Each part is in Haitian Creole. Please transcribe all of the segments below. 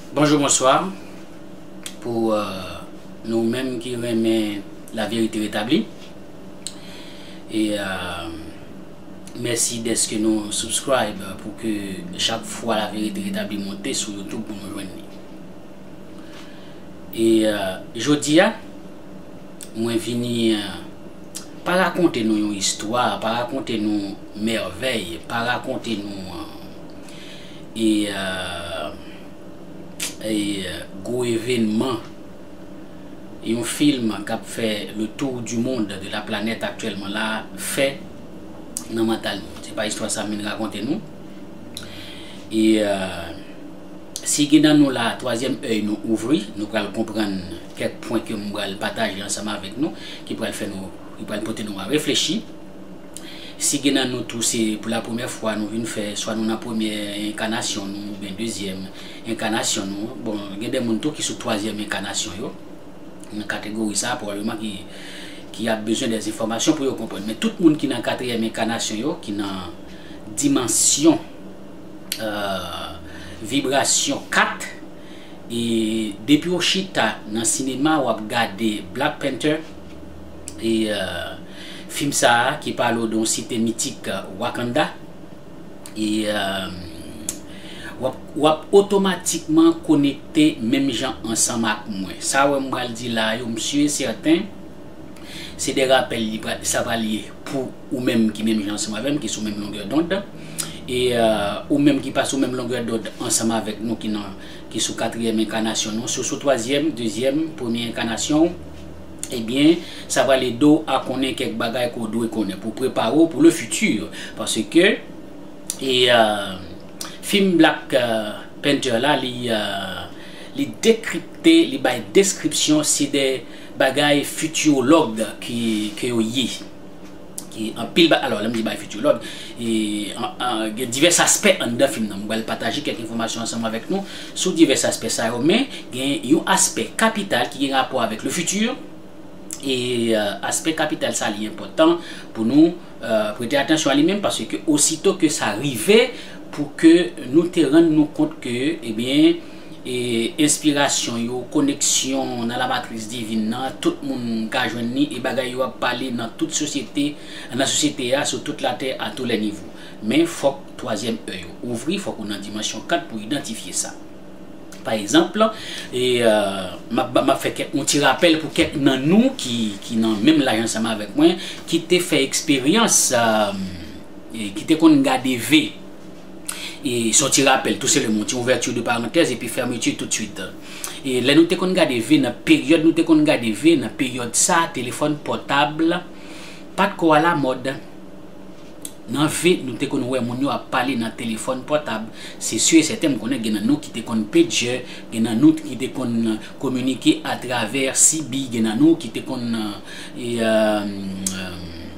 Bonjou bonswa pou nou menm ki renmen la verite retabli e mèsi deske nou subscribe pou ke chak fwa la verite retabli monte sou youtube pou nou jwenn li e jodi a mwen vini pa rakonte nou yon istwa pa rakonte nou mèvèy pa rakonte nou e gwo evenman yon film kap fè le tour du monde de la planète aktyèlman la fè nan mantal nou se pa istwa sam vin rakonte nou e si gen nan nou la twazyèm èy nou ouvri nou pral konprann kèk pwen ke m pral pataje ansanm avèk nou ki pral fè nou ki pral pote nou a reflechi. Si gen nan nou tou se pou la premyè fwa nou vin fè, swa nou nan premyè enkanasyon nou ou byen dezyèm enkanasyon nou, bon gen de moun tou ki sou twazyèm enkanasyon yo, nan kategori sa a pwobableman ki ki ap bezwen dè enfòmasyon pou yo konprann. Men tout moun ki nan katriyèm enkanasyon yo, ki nan dimansyon vibrasyon 4, e depi ou chita nan sinema ou ap gade Black Panther, e fim sa ki pale w de yon site mitik Wakanda e wap otomatikman konekte menm jan ansanm ak mwen sa yo m pral di la yo m su e sèten se de rapèl sa pral ye pou ou menm ki menm jan ansanm avè m ki sou menm longè dond e ou menm ki pa sou menm longè dond ansanm avèk nou ki sou katriyèm enkanasyon nou si w sou twazyèm, dezyèm, premye enkanasyon w. Ebyen, sa pral ede w a konnen kèk bagay ke w dwe konnen pou prepare w pou le futur. Paske, e fim Black Panther la li li dekripte, li bay deskripsyon se de bagay futurologue ke yo ye. Ki anpil ba alò lè m di bay fityològ e gen divès aspè anndan fim nan. M pral pataje kèk enfòmasyon ansanm avèk nou sou divès aspè sa yo men gen yon aspè kapital ki gen rapò avèk le futur e aspè kapital sa li enpòtan pou nou prete atansyon a li menm paske osito ke sa rive pou ke nou te rann nou kont ke ebyen Enspirasyon yo, koneksyon nan lamatris divin nan, tout moun ka jwenn li e bagay yo ap pale nan tout sosyete, nan sosyete a, sou tout latè a tou lè nivo. Men fòk twazyèm èy ou ouvri, fòk ou nan dimansyon kat pou idantifye sa. Pa egzanp, map fè kèk yon ti rapèl pou kèk nan nou ki nan menm laj ansanm avèk mwen, ki te fè eksperyans, ki te konn gade ve. E se yon ti rapèl tou selèman, yon ti ouvèti de parantèz epi fèmeti tout swit. E lè nou te konn gade ve nan peryòd nou te konn gade ve nan peryòd sa telefòn pòtab pa t ko alamòd. Nan ve nou te konn wè moun yo ap pale nan telefòn pòtab. Se si e sèten m konnen gen nan nou ki te konn pejè, gen nan nou ki te konn kominike atravè CB, gen nan nou ki te konn.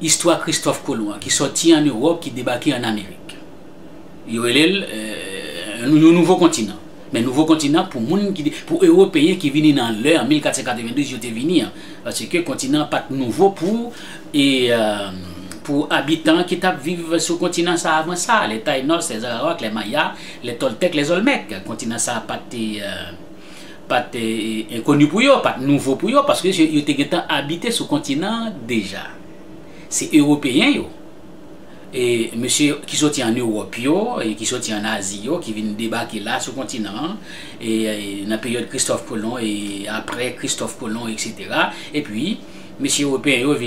Istwa Kristòf Kolon an ki sòti ann Ewòp ki debake ann Amerik. Yo rele l yon nouvo kontinan. Men nouvo kontinan pou moun ki, pou Ewopeyen ki vini nan lè an 1492 yo te vini an. Paske kontinan an pa t nouvo pou e pou abitan ki t ap viv sou kontinan sa a avan sa a, lè Taynòs, lè Zarawak, lè Maya, lè Tòltèk, lè Zòlmèk. Kontinan sa a pa t. pa t enkoni pou yo, pa t nouvo pou yo, paske yo te gentan abite sou kontinan an deja. Se Ewopeyen yo, mesye ki soti ann Ewòp yo, ki soti ann Azi yo, ki vin debake la sou kontinan an, nan peryòd Kristòf Kolon, e apre Kristòf Kolon, eksetera. Epi, mesye Ewopeyen yo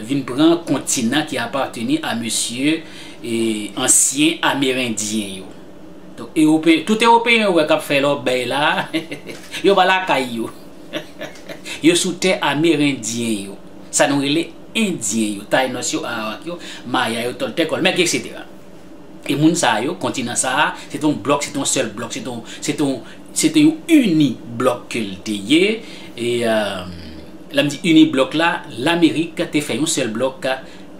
vin pran kontinan ki apateni a mesye ansyen Amerendyen yo. Tout ewopeyen ou wè kap fè lòbèy la, yo pa lakay yo. Yo sou tè amerendyen yo. Sa nou rele endyen yo, taynòs yo, arawak yo, maya yo, tòltèk, olmèk, etc. E moun sa yo, kontinan sa a, se te yon blòk, se te yon sèl blòk, se te yon ini blòk ke l te ye. E lè m di ini blòk la, Lamerik te fè yon sèl blòk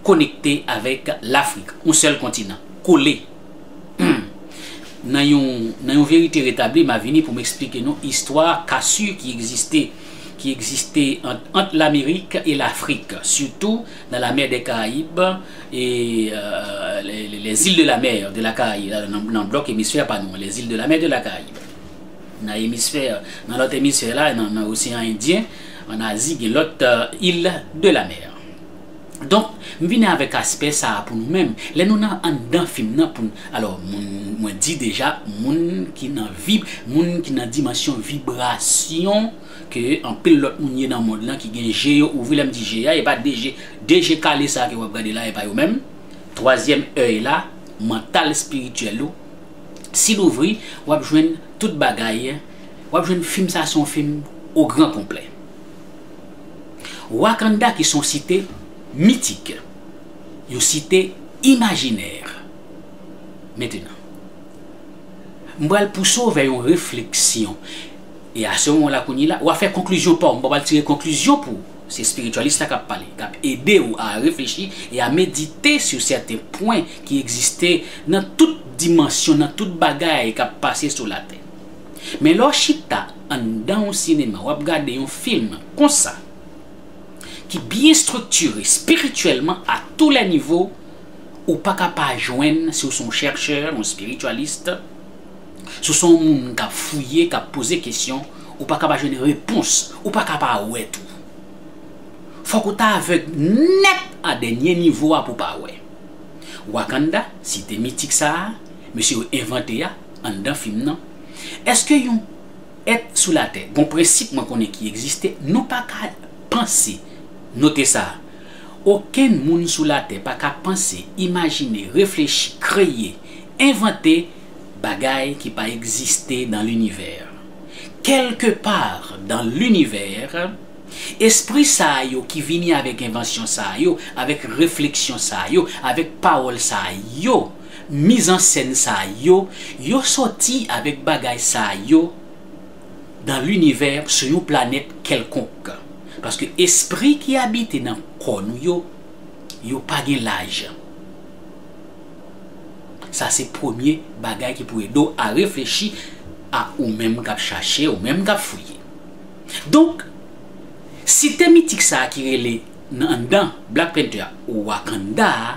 konekte avèk Lafrik. Yon sèl kontinan, kole. Nan yon verite retabli, m a vini pou m esplike nou istwa kasu ki egziste ki egziste ant Lamerik e Lafrik, sitou nan la mer des Caraïbes e les îles de la mer de la Caraïbe, nan blòk emisfè pa nou an, les îles de la mer de la Caraïbe. Nan emisfè, nan lòt emisfè la, nan oseyan Endyen, an Azi gen lòt îles de la mer. Donk, m vini avèk aspè sa a pou nou menm. Lè nou nan anndan fim nan pou n. Alò, moun, mwen di deja, moun ki nan vib, moun ki nan dimansyon vibrasyon ke anpil lòt moun ye nan mond lan ki gen je yo ouvri. Lè m di je a, e pa de je, de je kale sa a ke w ap gade la a, e pa yo menm. Twazyèm èy la, mantal espirityèl ou, si l ouvri, w ap jwenn tout bagay, w ap jwenn fim sa a se yon fim ogran konplè. Wakanda ki se yon site mitik, yon site imajinè. Mentènan, m pral pouse w vè yon refleksyon. E a se moman la kounye la, wa fè konklizyon pa w. M pa pral tire konklizyon pou w. Se espirityalist la kap pale, kap ede w a reflechi e a medite sou sèten pwen ki egziste nan tout dimansyon, nan tout bagay kap pase sou latè. Men lè w chita anndan yon sinema, w ap gade yon fim konsa, ki byen striktire spirityèlman a tou lè nivo, ou pa ka pa jwenn, si w se yon chèrchè, yon spirityalist, si w se yon moun k ap fouye, k ap poze kesyon, ou pa ka pa jwenn repons, ou pa ka pa wè tou. Fòk ou ta avèg nèt a dènye nivo a pou w pa wè. Wakanda, site mitik sa a, mesye yo envante a, Anndan fim nan, èske yon èt sou latè gon prensip mwen konnen ki egziste nou pa ka panse, note sa, okenn moun sou latè pa ka panse, imajine, reflechi, kreye, envante bagay ki pa egziste dan linivè. Kèlke pa dan linivè, espri sa a yo ki vini avèk envansyon sa a yo, avèk refleksyon sa a yo, avèk pawòl sa a yo, Miz an sèn sa yo, yo sòti avèk bagay sa yo dan linivè sou yon planèt kèlkonk. Paske espri ki abite nan kò nou yo, yo pa gen laj. Sa se premye bagay ki pou ede w a reflechi a ou menm k ap chache, ou menm k ap fouye. Donk, site mitik sa a ki rele nan anndan Black Panther Wakanda a,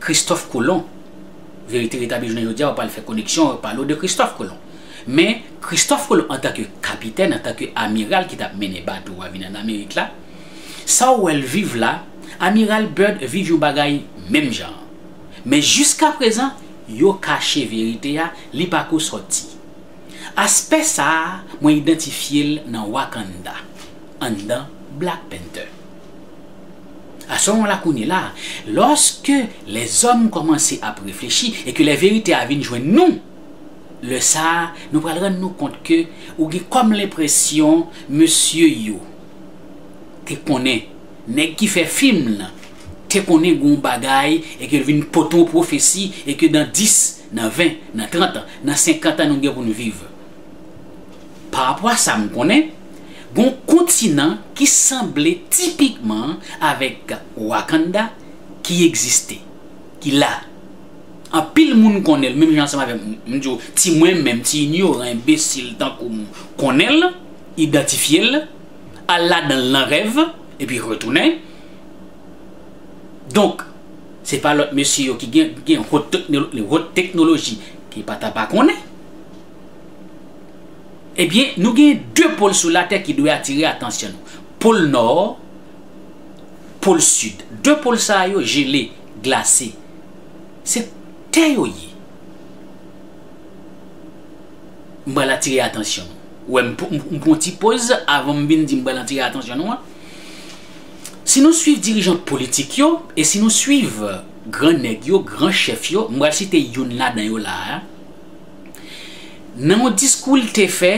Christophe Colomb, Verite Retabli jounen jodi a ou pral fè koneksyon yo pale w de Christophe Colomb. Men, Christophe Colomb antan ke kapitèn, antan ke amiral ki tap mennen bato a vin an Amerik la, sa w wè l viv la, Amiral Byrd viv yon bagay menm jan an. Men jiskaprezan, yo kache verite a, li pa ko sòti. Aspè sa a, mwen idantifye l nan Wakanda. anndan Black Panther. A ce moment-là kounye la, lorsque les hommes kòmanse ap reflechi e ke lè verite a vin jwenn nou, lè sa a nou pral rann nou kont ke ou gen kòm lenpresyon mesye yo te konnen, nèg ki fè fim lan te konnen gen yon bagay e ke l vin pote yon pwofesi e ke dan 10, nan 20, nan 30 an, nan 50 an nou gen pou nou viv. Pa rapò a sa m konnen, gen yon kontinan ki sanble tipikman avèk Wakanda ki egziste, ki la. Anpil moun konnen l, menm jan ansanm avèk m di w, ti mwen menm, ti inyoran, enbesil tankou m, konnen l, idantifye l, al ladan l nan rèv, epi retounen. Donk, se pa lòt mesye yo ki gen yon hot teknoloji ki pa ta pa konnen. Ebyen, nou gen de pol sou latè ki dwe atire atansyon nou. Pol nò, pol sid. De pol sa a yo jele, glase. Se tè yo ye. M pral atire atansyon nou. Ou wè m pran ti poz avan m vin di m pral atire atansyon nou an. Si nou swiv dirijan politik yo, e si nou swiv gran nèg yo, gran chèf yo, m pral site youn ladan yo la a, Nan yon diskou l te fè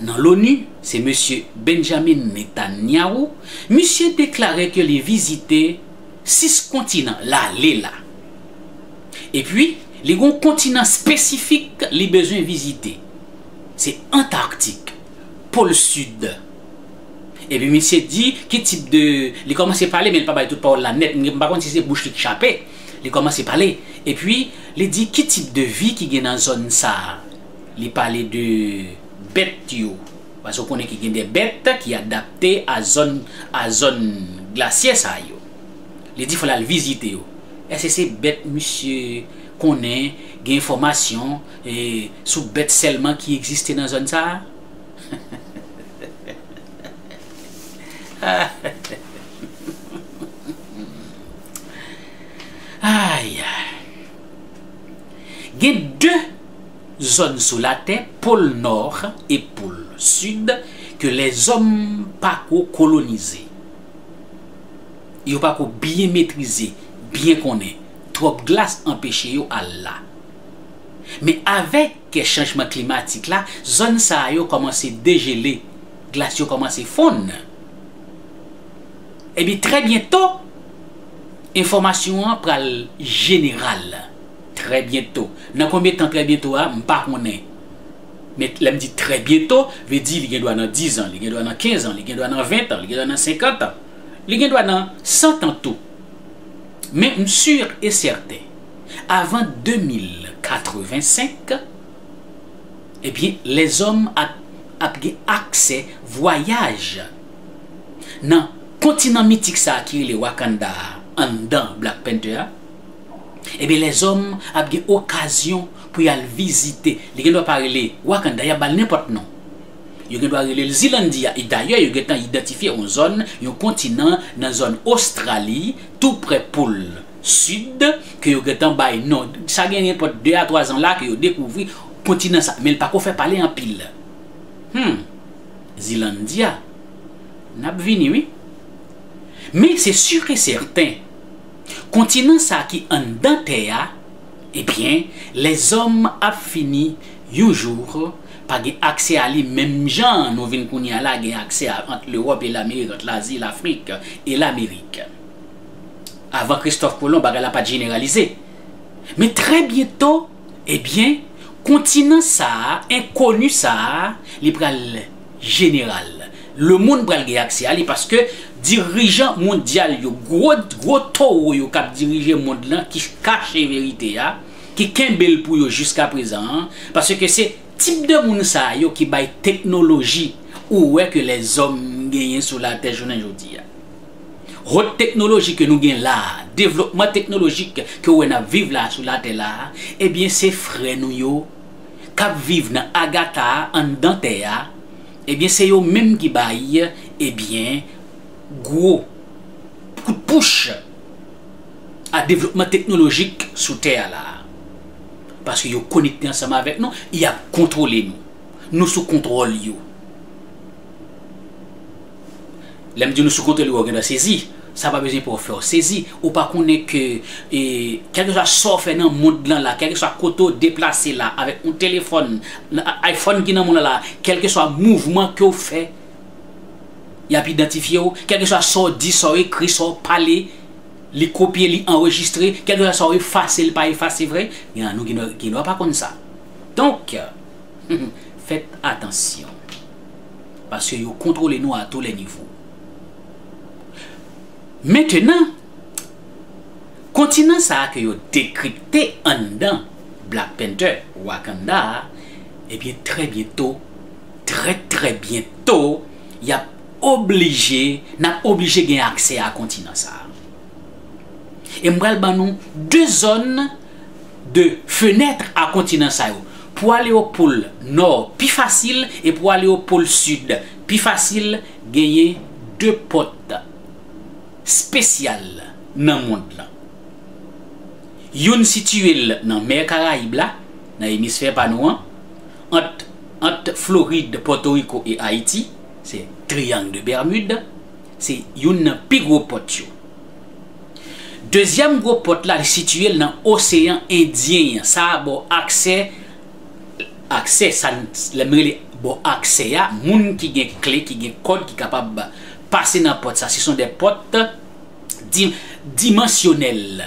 nan l'ONU, se Mesye Benjamin Netanyahu, misye deklare ke li vizite 6 kontinan l ale la. Epi, li gen yon kontinan spesifik li bezwen vizite, se Antarktik, Pol Sid. Epi misye di ki tip de, li kòmanse pale men li pa bay tout pawòl la nèt, m pa konn si se bouch li k chape. Li kòmanse pale, epi li di ki tip de vi ki gen nan zòn sa a. Li pale de bèt yo, paske ou konnen ki gen de bèt ki adapte a zòn a zòn glasyè sa yo. Li di fò l al vizite yo. Èske se bèt misye konnen, gen enfòmasyon e sou bèt sèlman ki egziste nan zòn sa a? Gen 2 zòn sou latè, pol nò e pol sid, ke lèzòm pa ko kolonize. Yo pa ko byen metrize, byen konnen. Twòp glas anpeche yo al la. Men avèk chanjman klimatik la, zòn sa yo kòmanse dejele, glas yo kòmanse fonn. Ebyen trè byento enfòmasyon an pral jeneral trè byento nan konbyen tan trè byento a m pa konnen men lè m di trè byento vle di li gen dwa nan dizan li gen dwa nan kenzan li gen dwa nan ventan li gen dwa nan senkantan li gen dwa nan santan tou men m sur e sèten avan 2085 ebyen lèzòm ap ap gen aksè vwayaj. nan kontinan mitik sa ki rele Wakanda a anndan Black Panther a, ebyen lèzòm ap gen okazyon pou y al vizite, li gendwa pa rele Wakanda, y ap ba l nenpòt non. Yo gendwa rele l Zilandiya, e dayè yo gentan idantifye yon zòn, yon kontinan nan zòn Ostrali, tou prè Pol Sid, ke yo gentan bay non, sa gen nenpòt de a twa zan la ke yo dekouvri kontinan sa, men l pako fè pale anpil. Hum! Zealandia, N ap vini wi. Men se sûr e sèten, kontinan sa ki anndan tè a, ebyen lèzòm ap fini yon jour pa gen aksè a li menm jan nou vin kounye a la gen aksè a ant Lewòp e Lamerik, ant Lazi, Lafrik e Lamerik. Avan Kristòf Kolon bagay la pa t jeneralize. Men trè byento. Ebyen kontinan sa a enkoni sa a li pral jeneral le moun pral gen aksè a li paske dirijan mondyal yo gwo gwo towo yo kap dirije mond lan ki kache verite a ki kenbe l pou yo jiskaprezan an paske se tip de moun sa yo ki bay teknoloji ou wè ke lèzòm genyen sou latè jounen jodi a. Hot teknoloji ke nou gen la a, devlopman teknolojik ke ou wè n ap viv la a sou latè la a, ebyen se frè nou yo k ap viv nan Agatha a anndan tè a, ebyen se yo menm ki bay, ebyen, gwo kout pouch a devlopman teknolojik sou tè a la a. Paske yo konekte ansanm avèk nou, y ap kontwole nou. Nou sou kontwòl yo. Lè m di nou sou kontwòl li wè w gentan sezi, sa pa bezwen pou w fè w sezi, ou pa konnen ke kèlkeswa sa w fè nan mond lan la, kèlkeswa kote w deplase la avèk yon telefòn, iPhone ki nan men w la, kèlkeswa mouvman ke w fè, y ap idantifye w, kèlkeswa sa w di, sa w ekri, sa w pale, li kopye, li anrejistre, kèlkeswa sa w efase, li pa efase vre, gen nan nou ki gen dwa pa konn sa. Donk, fèt atansyon. paske yo kontwole nou a tou lè nivo. Mentenan, kontinan sa a ke yo dekripte anndan Black Panther, Wakanda a, ebyen trè byento, trè trè byento, y ap oblije, n ap oblije gen aksè a kontinan sa a. E m pral ban nou 2 zòn, de fenètre a kontinan sa yo. Pou ale o pol nò pi fasil e pou ale o pol sid pi fasil genyen de pòt spesyal nan mond lan. Youn sitiye l nan mè Karayib la, nan emisfè pa nou an, ant ant Florid, Pòtoriko e Ayiti, se Triangle de Bermude, se youn nan pi gwo pòt yo. Dezyèm gwo pòt la li sitiye l nan oseyan endyen an sa bò aksè aksè sa lè m rele bò aksè a moun ki gen kle ki gen kòd ki kapab pase nan pòt sa se son de pòt di dimansyonèl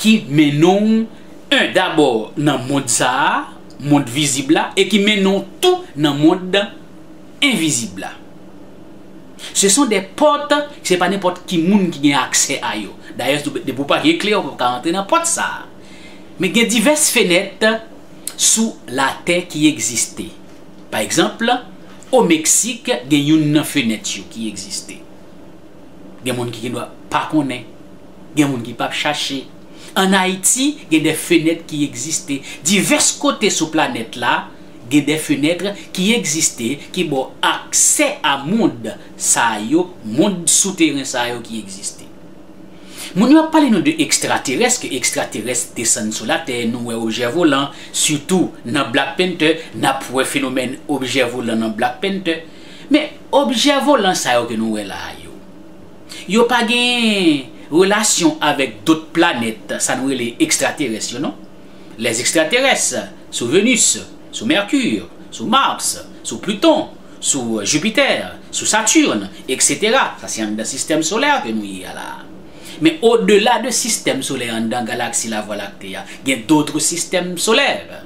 ki mennen w en dabò nan mond sa a mond vizib la e ki mennen w tou nan mond envizib la. Se son de pòt, se pa nenpòt ki moun ki gen aksè a yo. Dayè, depi w pa gen kle, ou pap ka antre nan pòt sa a. Men gen divès fenèt sou latè ki egziste. Pa egzanp, o Meksik gen youn nan fenèt yo ki egziste. Gen moun ki gen dwa pa konnen, gen moun ki pap chache. An Ayiti, gen de fenèt ki egziste. Divès kote sou planèt la. Gen de fenêtre ki egziste ki ba w aksè a mond sa yo, mond souteren sa yo ki egziste. Moun yo ap pale nou de ekstraterès, ke ekstraterès desann sou latè, nou wè objè volan, sitou nan Black Panther, n ap wè fenomèn objè volan nan Black Panther. Men, objè volan sa yo ke nou wè la a yo, yo pa gen relasyon avèk dot planèt, sa nou rele ekstraterès yo non. Les extraterrestres sou Venus, sou Mercure, sou Mars, sou Pluton, sou Jupiter, sou Saturne, etc. Sa se anndan sistèm solè ke nou ye a la. Men o dela de sistèm solè anndan galaksi la Voie Lactée a, gen d'autres systèmes solaires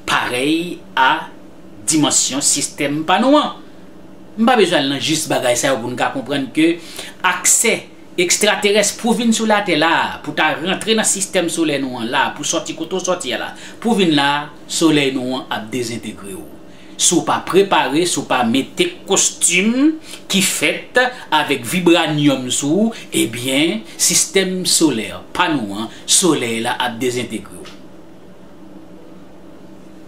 parèy a dimansyon sistèm pa nou an. M pa bezwen al nan jis bagay sa yo pou n ka konprann ke aksè Ekstraterès pou vin sou latè la a, pou ta rantre nan sistèm solè nou an la a, pou sòti kote w sòti a la, pou vin la a, solèy nou an ap dezentegre w. Si w pa prepare, si w pa mete kostim ki fèt avèk vibranyòm sou ou, ebyen, sistèm solè pa nou an, solèy la ap dezentegre w.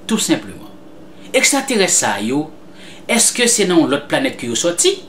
Tou senpleman. Ekstraterès sa yo, èske se nan yon lòt planèt ke yo sòti?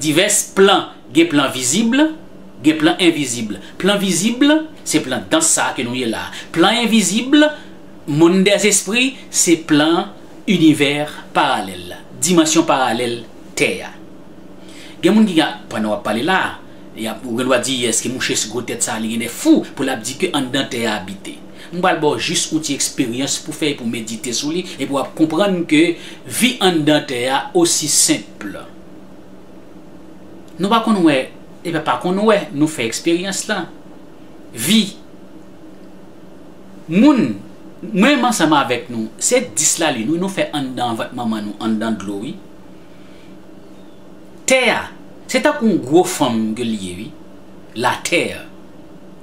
Divès plan Gen plan vizib, gen plan envizib. Plan vizib, se plan dans sa a ke nou ye la a. Plan envizib, monn dèzespri, se plan inivè paralèl la, dimansyon paralèl tè a. Gen moun ki ka, pandan w ap pale la a, y ap, ou gendwa di, èske mouche gwo tèt sa a li gen lè fou pou l ap di ke anndan tè a abite? M pral ba w jis yon ti eksperyans pou fè e pou medite sou li, epi w ap konprann ke vi anndan tè a osi senp. Nou pa konn wè, epa pa konn wè, nou fè eksperyans lan. Vi Moun, mwen menm ansanm avèk nou, se 10 lalin wi nou fè anndan vant manman nou, anndan dlo wi. Tè a, se tankou yon gwo fanm ke li ye wi. La terre,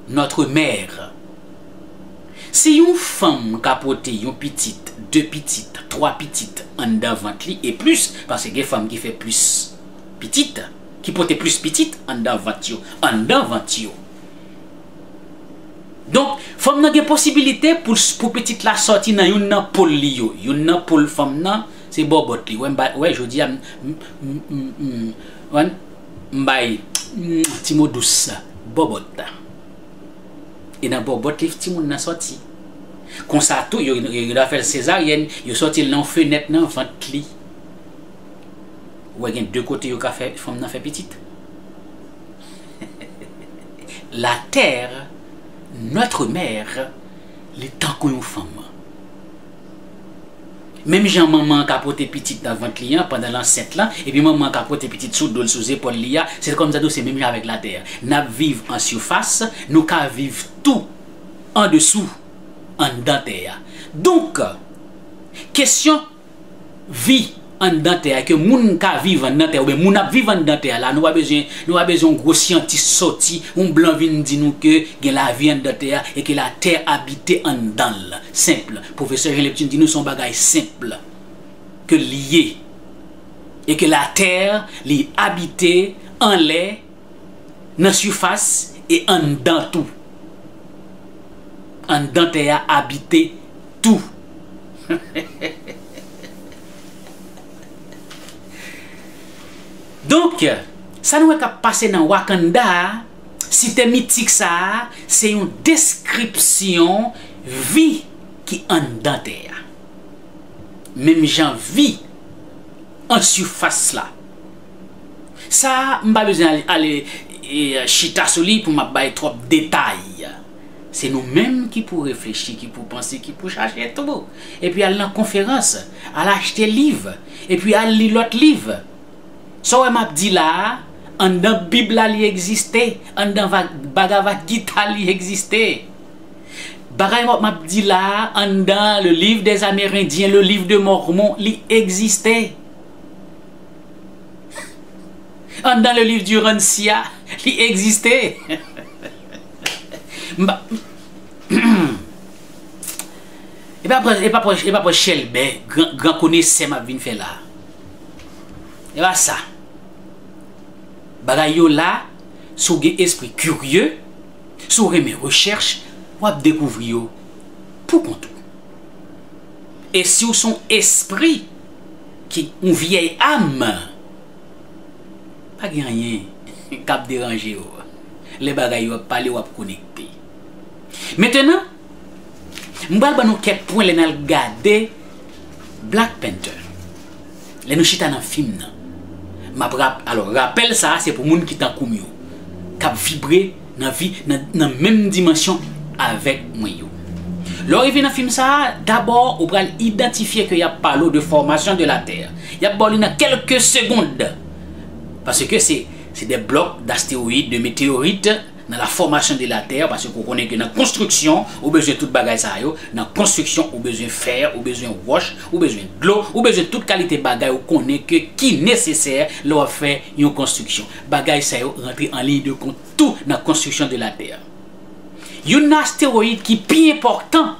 notre mère. Si yon fanm ka pote yon pitit, 2 pitit, 3 pitit anndan vant li e plis, paske gen fanm ki fè plis pitit, ki pote plis pitit anndan vant yo, anndan vant yo. Donk, fanm nan gen posibilite pou l, pou pitit la sòti nan youn nan pol li yo. Youn nan pol fanm nan, se bòbòt li. Wè m bay, wè jodi a m, m, m, m, m, wè, m bay, m, ti mo dous, bòbòt. e nan bòbòt li timoun nan sòti. Konsa tou yo yo ta fèl sezaryèn, yo sòtil nan yon fenèt nan vant li. Ou wè gen 2 kote yo ka fè fanm nan fè pitit. La terre, notre mère, li tankou yon fanm. Menm jan manman an ka pote pitit nan vant li an pandan l ansent lan, epi manman an ka pote pitit sou do l, sou zepòl li a, se kòmsi tou se menm jan avèk latè a. N ap viv an sifas, nou ka viv tou andesou, anndan tè a. Donk, kesyon. vi anndan tè a, ke moun ka viv anndan tè a, oubyen moun ap viv anndan tè a la, nou pa bezwen, nou pa bezwen yon gwo syantis sòti, yon blan vin di nou ke gen lavi anndan tè a, e ke la tè abite anndan l. Senp. Pwofesè Jean Neptune di nou se yon bagay senp, ke l ye. E ke la tè li abite anlè. nan sifas e anndan tou. Anndan tè a abite tou. Donk, sa nou wè k ap pase nan Wakanda a, site mitik sa a, se yon deskripsyon vi ki anndan tè a. Menm jan vi an sifas la. Sa a, m pa bezwen ale chita sou li pou m ap bay twòp detay. Se nou menm ki pou reflechi, ki pou panse, ki pou chache tou. Epi al nan konferans, al achte liv, epi al li lòt liv. Sa w wè m ap di la a, anndan Bib la li egziste, anndan Bhagavad Gita li egziste. Bagay m ap di la a, anndan Le Livre des Amérindiens, Le Livre de Mormon, li egziste. Anndan le liv di Rancia li egziste. E pa pran e pa pran e pa pran chèlbè gran gran konesè m ap vin fè la. E pa sa. Bagay yo la, si w gen espri kirye, si w renmen rechèch, w ap dekouvri yo pou kont ou. E si w se w espri. ki yon vyèy am, pa gen anyen k ap deranje w lè bagay yo ap pale w ap konekte. Mentenan, m pral ban nou kèk pwen lè n al gade Black Panther, lè nou chita nan fim nan. M ap rap, alò rapèl sa a se pou moun ki tankou m yo, k ap vibre, Nan vi nan menm dimansyon avèk mwen yo. Lè w rive nan fim sa a, dabò ou pral idantifye ke y ap pale w de fòmasyon de latè. Y ap ba w li nan kèlke segond. Paske se se de blòk dastewoyid, de meteorit nan la fòmasyon de latè, paske ou konnen ke nan konstriksyon ou bezwen tout bagay sa yo, nan konstriksyon ou bezwen fè, ou bezwen wòch, ou bezwen dlo, ou bezwen tout kalite bagay ou konnen ke ki nesesè lè w ap fè yon konstriksyon. Bagay sa yo rantre an liy de kont tou nan konstriksyon de Latè. Youn nan astewoyid ki pi enpòtan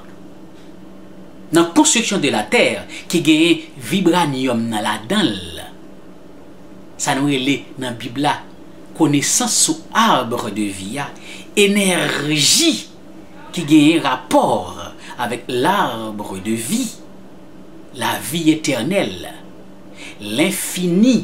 nan konstriksyon de Latè ki genyen vibranyòm nan ladan l, sa nou rele nan Bib la konesans sou arbre de vie a, enèji ki genyen rapò avèk l'arbre de vie, lavi etènèl, lenfini.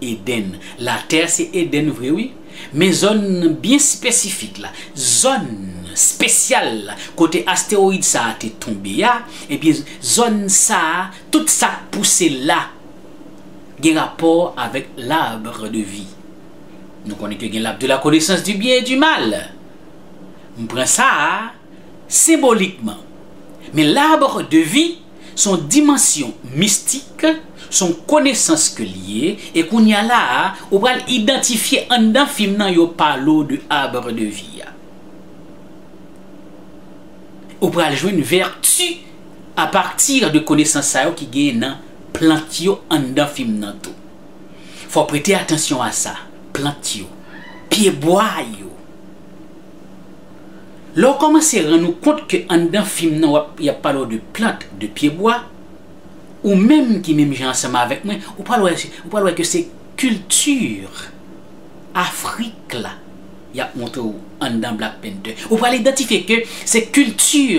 Eden. Latè se Eden vre wi, men zòn byen spesifik la, zòn spesyal la kote astewoyid sa a te tonbe a, ebyen zòn sa a tout sa k pouse la gen rapò avèk l'arbre de vie. Nou konnen ke gen l'arbre de la connaissance du bien et du mal. M pran sa a. senbolikman. Men l'arbre de vie s on dimansyon mistik, s on konesans ke l ye, e kounya la a ou pral idantifye anndan fim nan yo pale w de arbre de vie a. Ou pral jwenn vèti a pati de konesans sa yo ki genyen nan plant yo anndan fim nan tou. Fò w prete atansyon a sa, plant yo, pye bwa yo. Lè w kòmanse rann ou kont ke anndan fim nan wap y ap pale w de plant, de pyebwa, ou menm ki menm jan ansanm avèk mwen, ou pral wè, ou pral wè ke se kilti Afrik la y ap montre w anndan Black Panther. Ou pral idantifye ke se kilti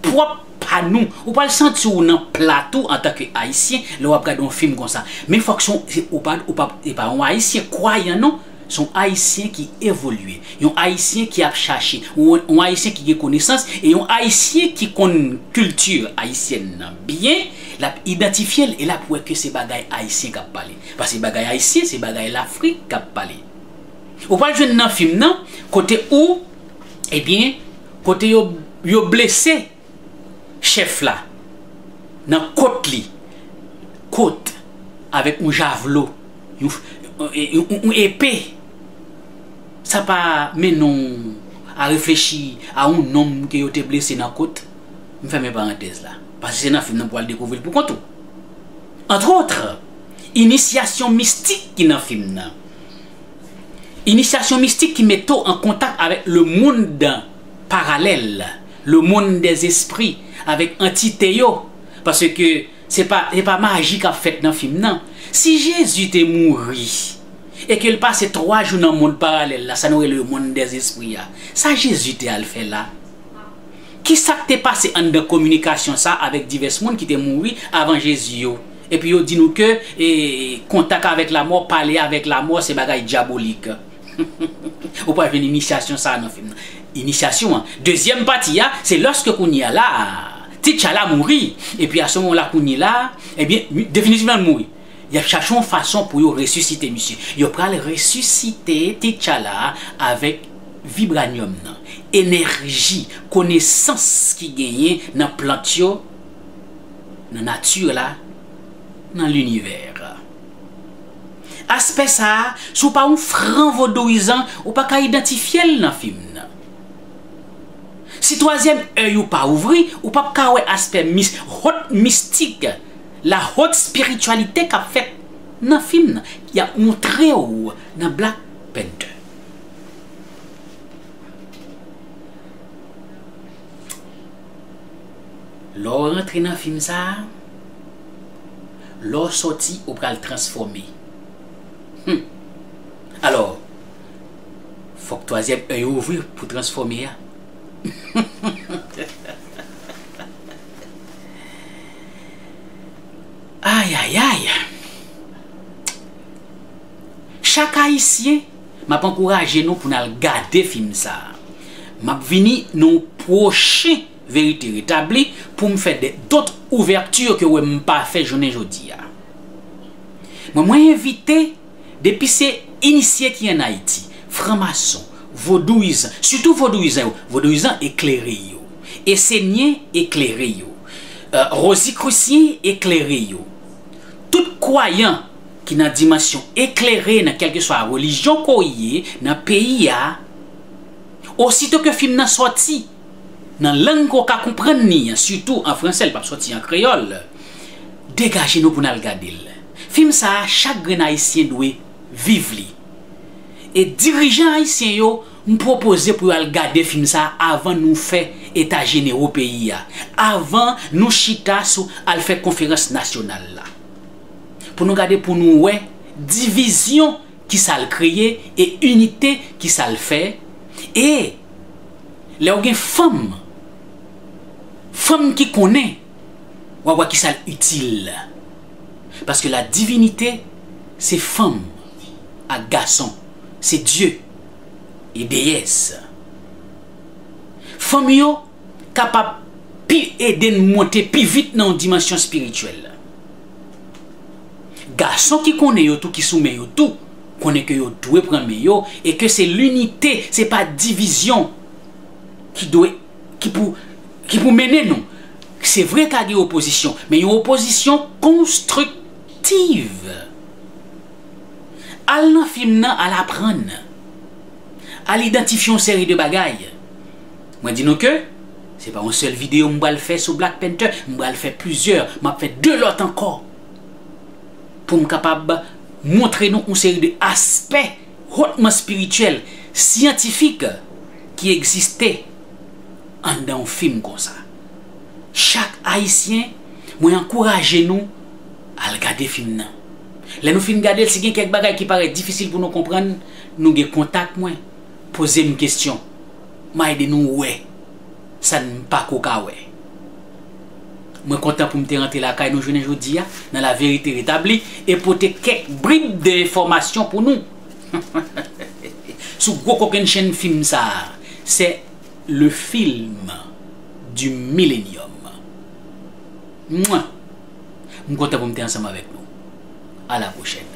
pwòp pa nou. Ou pral santi w nan pla tou antan ke Ayisyen lè w ap gade yon fim konsa. Men fòk se yon, ou pa, ou pa, se pa yon Ayisyen kwayan non. Se yon Ayisyen ki evolye, yon Ayisyen ki ap chache, yon Ayisyen ki gen konesans e yon Ayisyen ki konn kilti ayisyèn nan byen, l ap idantifye l e l ap wè ke se bagay Ayisyen k ap pale. Paske bagay Ayisyen se bagay Lafrik k ap pale. Ou pral jwenn nan fim nan kote ou, ebyen, kote yo blese. chèf la nan kot li, kot avèk yon javlo, yon epe, sa pa mennen w a reflechi a yon nonm ke yo te blese nan kot? M fèmen parantèz la, paske se nan fim nan pou w al dekouvri l pou kont ou. Entre autres, inisyasyon mistik ki nan fim nan, inisyasyon mistik ki mete w an kontak avèk le monde parallèle, Le monde des esprits avèk antite yo paske se pa se pa maji kap fèt nan fim nan. Si Jezi te mouri e ke l pase 3 jou nan mond paralèl la sa nou rele le monde des esprits a, sa Jezi te al fè la? Kisa k te pase anndan kominikasyon sa avèk divès moun ki te mouri avan Jezi yo? Epi yo di nou ke kontak avèk lamò, pale avèk lamò se bagay dyabolik. Ou pral jwenn inisyasyon sa a nan fim nan. Inisyasyon an. Dezyèm pati a, se lòske kounye a la a, T'Challa mouri, epi a se moman la kounye la a, ebyen, definitivman l mouri. Y ap chache yon fason pou yo resisite misye. Yo pral resisite T'Challa avèk vibranium nan, enèji, konesans ki genyen nan plant yo, nan nati la, nan linivè. Aspè sa a, si w pa yon fran vodouyizan, ou pa ka idantifye l nan fim nan. Si twazyèm èy ou pa ouvri, ou p ap ka wè aspè mis, haute mystique, la haute spiritualité k ap fèt nan fim nan, y ap montre w nan Black Panther. Lè w rantre nan fim sa a. Lè w sòti, ou pral transfòme. Humm. Alò, fòk twazyèm èy ou ouvri pou transfòme a. Ayayay! Chak Ayisyen, m ap ankouraje nou pou n al gade fim sa a. M ap vini nan yon pwochen. Verite retabli pou m fè de dot ouverture ke wè m pa fè jounen jodi a. Mwen mwen envite depi se inisye ki an Ayiti, fran mason, vodouyizan, sitou vodouyizan yo, vodouyizan eklere yo, esenyen eklere yo, rozikrusyen eklere yo, tout kwayan ki nan dimansyon eklere nan kelkeswa relijyon ke w ye nan peyi a, osito ke fim nan soti, nan lang ke w ka konprann li an, sitou an franse, li p ap sòti an kreyòl, degaje nou pou n al gade l. Fim sa a, chak grenn Ayisyen dwe viv li. E dirijan Ayisyen yo, m pwopoze pou yo al gade fim sa a avan nou fè eta jenero peyi a, avan nou chita sou al fè konferans nasyonal la. Pou nou gade pou nou wè divizyon ki sa l kreye e inite ki sa l fè e lè w gen fanm fanm ki konnen w ap wè ki sa l itil paske la divinite se fanm ak gason se dye e deyès fanm yo kapab pi ede n monte pi vit nan yon dimansyon espirityèl. Gason ki konnen yo tou ki sou men yo tou, konnen ke yo dwe pran men yo e ke se linite, se pa divizyon ki dwe, ki pou, ki pou mennen nou. Se vre ka gen opozisyon, men yon opozisyon konstriktiv. Al nan fim nan, al aprann. Al idantifye yon seri de bagay. Mwen di nou ke se pa yon sèl videyo m pral fè sou Black Panther, m pral fè plizyè, m ap fè 2 lòt ankò pou m kapab montre nou yon seri de aspè hotman spirityèl, syantifik ki egziste anndan yon fim konsa. Chak Ayisyen, mwen ankouraje nou al gade fim nan. Lè nou fin gade l, si gen kèk bagay ki parèt difisil pou nou konprann, nou gen kontak mwen, poze m kesyon. M a ede nou wè sa n pa ko ka wè. Mwen kontan pou m te rantre lakay nou jounen jodi a nan laverite retabli e pote kèk brib de enfòmasyon pou nou sou gwo kokenn chenn fim sa a, c'est le film du millenium. Mwah! M kontan pou m te ansanm avèk nou. A la pwochèn.